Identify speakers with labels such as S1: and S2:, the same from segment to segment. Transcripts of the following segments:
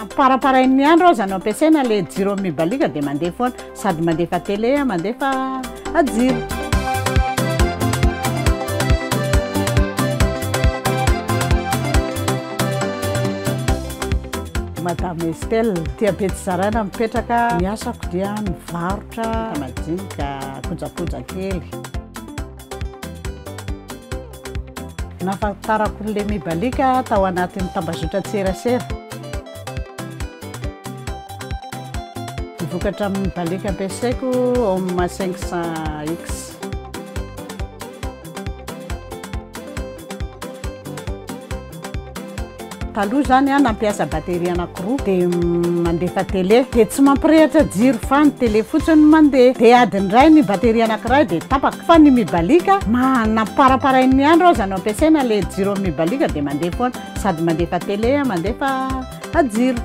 S1: Namparamparainin'ny andro aza no ampiasaina ilay jiro amin'ny mibaliaka dia mandeha foana, sady mandefa télé mandefa jiro. Madame Estelle, aty Ampefijarana mipetraka, ny asako dia mivarotra madinika, kojakoja kely. Nahafantarako ny Lemi Balika tao anatin'ny tambazotran-tserasera. Ny vokatra amin'ny balika ampiasaiko Home 500X. Taloha izany aho nampiasa batterie anankiroa dia mandefa télé dia tsy mampirehitra jiro fa ny télé fotsiny no mandeha dia adiny iray ny batterie anankiray dia tapaka fa ny mibalika namparaparain'ny andro aza no ampiasaina ilay jiro amin'ny mibalika dia mandeha foana sady mandefa télé mandefa jiro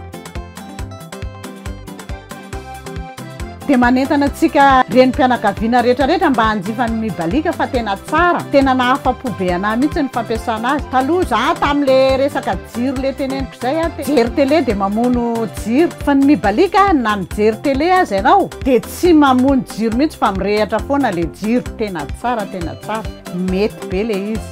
S1: Dia manentana antsika renim-pianakaviana rehetrarehetra mba hanjifa ny Mibaliaka fa tena tsara. Tena nahafa-po be anah mihitsy ny fampiasana azy. Taloha za tamle resaka jiro le teneniko izay a, mijery tele dia mamono jiro. Fa ny Mibaliaka na mijery tele aza ianao dia tsy mamono jiro mihitsy fa mirehatra foana le jiro. Tena tsara, tena tsara. Mety be le izy.